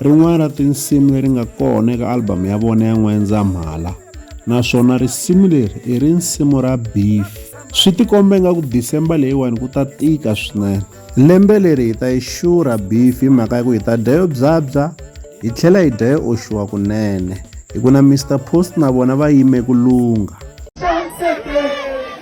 Rin'wana ra tinsimu leri nga kona eka album ya vona ya N'wendzamhala naswona risimu leri i rinsimu ra Beef. Swi tikombe nga ku December leyiwani ku ta tika swinene. Lembe leri hi ta yi xurha Beef hi mhaka ya ku hi ta dya yo byabya hi tlhela hi dya yo oxiwa kunene. Hi ku na Mister Post na vona va yime ku lungha.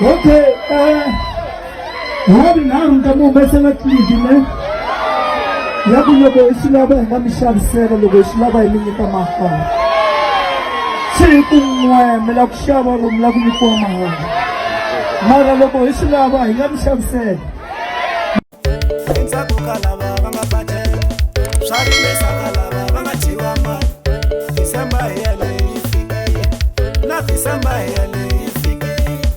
okay eh, ha vinharhu ni ta mi humesela tlilidi ne ya ku loko hi swi lava hi nga mi xavisela loko hi swi lava hi mi nyika mahala se hi ku n'we mi la ku xava vo mi la ku nyikiwa mahala mara loko hi swi lava hi nga mi xavisela endzhaku ka lava va nga badela swa rimesa ka lava va nga dyiwa mali december hi yeleyi yi fikile na december hi yeleyi